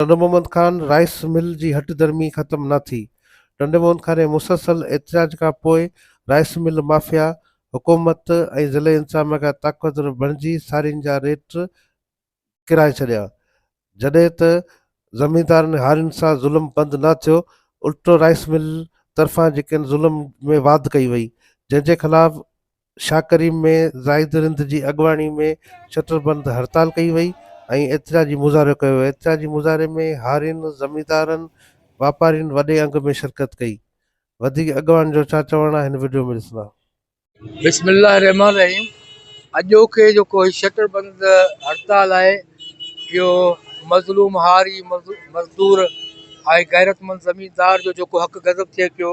Tando Muhammad Khan rice mill جي هٺ ڌرمي ختم نه ٿي. ٽنڊو محمد خان جي مسلسل احتجاج کان پوء رائيس مل مافيا حڪومت ۽ ضلعي انتظاميا کان طاقتور بڻجي سارين جا ريٽ ڪرائي ڇڏيا. جڏهن ته زميندارن هارين سان ظلم بند نه ٿيو، الٽو رائيس مل طرفان جيڪن ظلم ۾ واڌ ڪئي وئي، جنهن جي خلاف شاهه ڪريم ۾ زاهد رند جي اڳواڻي ۾ شٽر بند هڙتال ڪئي وئي ۽ احتجاجي مظاهرو ڪيو ويو احتجاجي مظاهري ۾ هارين زميندارن واپارين وڏي انگ ۾ شرڪت ڪئي وڌيڪ اڳواڻن جو ڇا چوڻ آهي هن وڊيو ۾ ڏسندا. بسم الله الرحمن الرحيم اڄوڪي جيڪو هي شٽر بند هڙتال آهي اهو مظلوم هاري مزدور هاري غيرتمند زميندار جو جيڪو حق غضب ٿئي پيو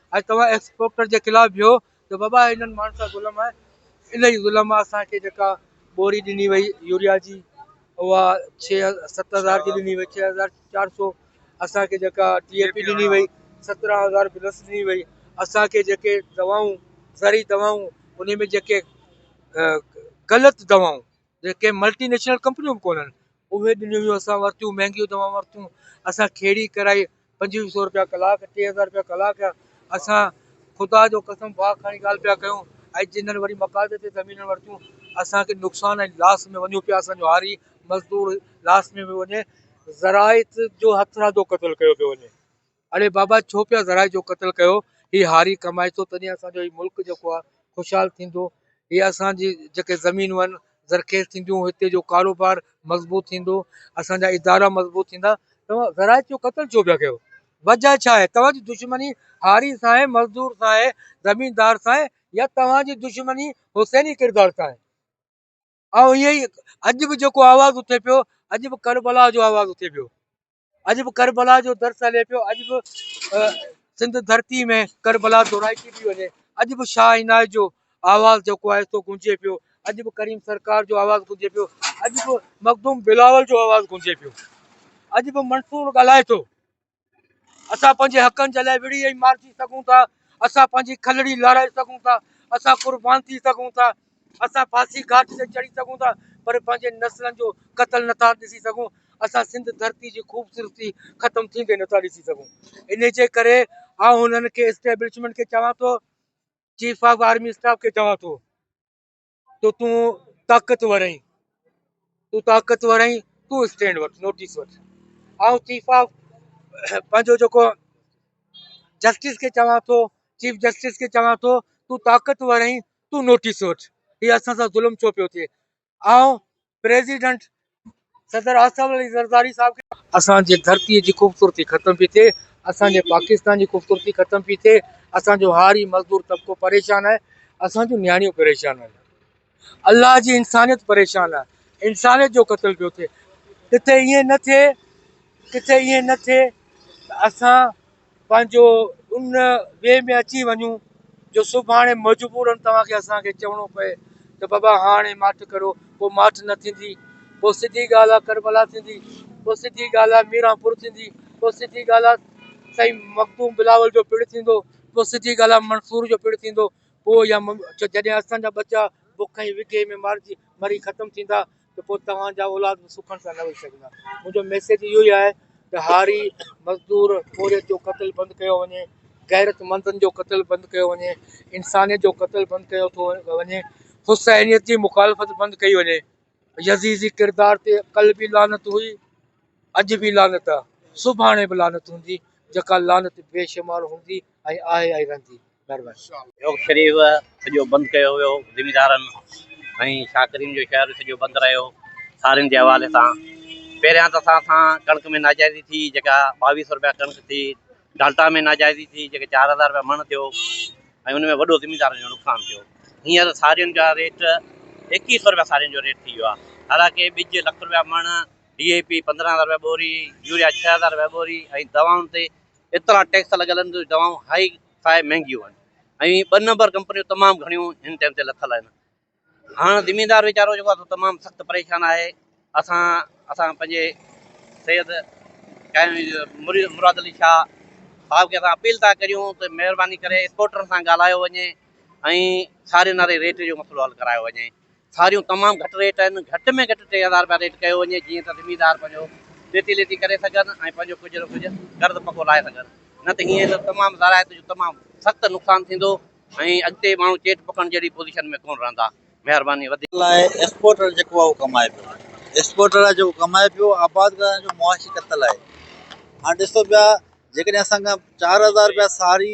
اڄ توهان ايڪس پوڪٽر جي خلاف بيهو ته بابا انهن ماڻهن سان ظلم آهي ان ئي ظلم مان اسان کي جيڪا ٻوري ڏني وئي يوريا جي اها ڇهه ست هزار جي ڏني وئي ڇهه هزار چار سو اسانکي جيڪا ٽي اي پي ڏني وئي سترهن هزار پلس ڏني وئي اسانکي جيڪي دوائون زرعي دوائون ان ۾ جيڪي غلط دوائون جي ڪي ملٽي نيشنل ڪمپنيون به ڪونهن اهي ڏنيون هيون اسان ورتيون مهنگيون دوائون ورتيون اسان کيڙي ڪرائي پنجويهه سو روپيا ڪلاڪ ٽي هزار روپيا ڪلاڪ جا اسان خدا جو قسم واء کڻي ڳالهه پيا ڪيون ۽ جنهن وري مقاضي تي زمينون ورتيون اسانکي نقصان ۽ لاس ۾ وڃون پيا اسانجو هاري مزدور لاس ۾ پيو وڃي زراعت جو هٿرادو قتل ڪيو پيو وڃي اڙي بابا ڇو پيا ذرائع جو قتل ڪيو هي هاري ڪمائتو تڏهن اسان جو هي ملڪ جيڪو آ خوشحال ٿيندو هي اسان جي جيڪي زمينون آهن زرخيز ٿينديون هتي جو ڪاروبار مضبوط ٿيندو اسان جا ادارا مضبوط ٿيندا توهان ذرائع جو قتل ڇو پيا ڪيو وجه ڇا آهي توهان جي دشمني هاري سان آهي مزدور سان آهي زميندار سان آهي يا توهان جي دشمني حسيني ڪردار سان آهي آئون هي اڄ به جيڪو آواز اٿي پيو اڄ به ڪربلا جو آواز اٿي پيو اڄ به ڪربلا جو درس هلي پيو اڄ به سنڌ ڌرتي ۾ ڪربلا دورائتي پي وڃي اڄ به شاهه عنايت جو آواز جيڪو آهي سو گونجي پيو اڄ به ڪريم سرڪار جو آواز گونجي پيو اڄ به مخدوم بلاول جو آواز گونجي پيو اڄ به منصور ڳالهائي ٿو اسان پنهنجي حقن جي لاء وڙهي ۽ مارجي سگهون ٿا اسان پنهنجي کلڙي لارائي سگهون ٿا اسان قربان ٿي سگهون ٿا اسان ڦاسي گهاٽ تي چڙهي سگهون ٿا پر پنهنجي نسلن جو قتل نه ٿا ڏسي سگهون، اسان سنڌ ڌرتي جي خوبصورتي ختم ٿيندي نه ٿا ڏسي سگهون، انهي جي ڪري آئون هنن کي اسٽيبلشمينٽ کي چوان ٿو، چيف آف آرمي اسٽاف کي چوان ٿو تو تون طاقتور آهين، تون طاقتور آهين، تون اسٽينڊ وٺ، نوٽيس وٺ. آئون چيف آف پنهنجو جيڪو جسٽس کي چوان ٿو، چيف جسٽس کي چوان ٿو تون طاقتور آهين، تون نوٽيس وٺ هي اسان سان ظلم ڇو پيو ٿئي آئون پريزيڊنٽ صدر آصف علي زرداري صاحب کي اسان جي ڌرتي جي خوبصورتي ختم پي ٿئي اسان جي پاڪستان جي خوبصورتي ختم پي ٿئي اسان جو هاري مزدور طبقو پريشان آهي اسان جون نياڻيون پريشان آهن الله جي انسانيت پريشان آهي انسانيت جو قتل پيو ٿئي ڪٿي ائين نه ٿئي ڪٿي ائين نه ٿئي اسان پنهنجو ان وي ۾ اچي وڃون جو سڀاڻي مجبورن توهان کي اسان کي چوڻو پئي ته بابا هاڻي ماٺ ڪرو پوء ماٺ نه ٿيندي پوء سڌي ڳالهه آ ڪربلا ٿيندي پوء سڌي ڳالهه آ ميرانپور ٿيندي پوء سڌي ڳالهه آ سائين مخدوم بلاول جو پڻ ٿيندو پوء سڌي ڳالهه آ منصور جو پڻ ٿيندو پوء يا جڏهن اسان جا ٻچا بک ۽ وگهي ۾ مارجي مري ختم ٿيندا ته پوء توهان جا اولاد به سکڻ سان نه ويهي سگهندا. منهنجو ميسيج اهو ئي آهي ته هاري، مزدور، پورهيت جو قتل بند ڪيو وڃي، غيرتمندن جو قتل بند ڪيو وڃي، انسانيت جو قتل بند ڪيو ٿو وڃي، حسينيت جي مخالفت بند ڪئي وڃي. يزيدي ڪردار تي ڪل به لعنت هئي، اڄ به لعنت آهي، سڀاڻي به لعنت هوندي، جيڪا لعنت بيشمار هوندي ۽ آهي ۽ رهندي. چوڪ شريف سڄو بند ڪيو ويو، زميندارن ۽ شاڪرين جو شهر سڄو بند رهيو، سارين جي حوالي سان پهريان ته اسان سان ڪڻڪ ۾ ناجائزي ٿي جيڪا ٻاويهه سؤ رپيا ڪڻڪ ٿي، ڊالٽا ۾ ناجائزي ٿي جيڪي چار هزار رپيا مڻ ٿيو ۽ ان ۾ وڏو زميندارن جو نقصان ٿيو، هينئر سارين جا ريٽ ايڪيهه سؤ رپيا سارين جو ريٽ ٿي ويو آهي، حالانڪه ٻج لک رپيا مڻ، ڊي اي پي پندرهن هزار رپيا ٻوري، يوريا ڇهه هزار رپيا ٻوري ۽ دوائن تي ايترا ٽيڪس لڳل آهن جو دوائون هائي فائي مهنگيون آهن ۽ ٻه نمبر ڪمپنيون تمام گهڻيون هن ٽائيم تي لٿل آهن هاڻ زميندار ويچارو جيڪو آهي تمام سخت پريشان آهي اسان اسان پنهنجي سيد مراد علي شاهه صاحب کي اسان اپيل ٿا ڪريون ته مهرباني ڪري ايڪسپورٽرن سان ڳالهايو وڃي ۽ ساري ناري ريٽ جو مسئلو حل ڪرايو وڃي ساريون تمام گهٽ ريٽ آهن، گهٽ ۾ گهٽ ٽي هزار رپيا ريٽ ڪيو وڃي جيئن ته زميندار پنهنجو ليتي ليتي ڪري سگهن ۽ پنهنجو ڪجهه نه ڪجهه قرض پڪو لاهي سگهن نه ته هيئن ته تمام زراعت جو تمام سخت نقصان ٿيندو ۽ اڳتي ماڻهو چيٽ پڪڻ جهڙي پوزيشن ۾ ڪونه رهندا مهرباني وڌيڪ. لاء ايڪسپورٽر جيڪو آهي اهو ڪمائي پيو ايڪسپورٽر آهي جيڪو ڪمائي پيو آباد ڪرڻ جو معاشي قتل آهي هاڻ ڏسو پيا جيڪڏهن اسان کان چار هزار رپيا ساري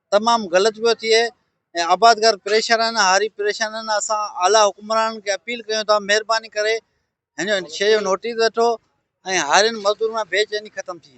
تمام غلط پيو ٿئي ۽ آبادگار پريشان آهن هاري پريشان آهن اسان اعليٰ حڪمرانن کي اپيل ڪيون ٿا مهرباني ڪري هن شي جو نوٽيس وٺو ۽ هارين مزدورن ۾ بي چيني ختم ٿئي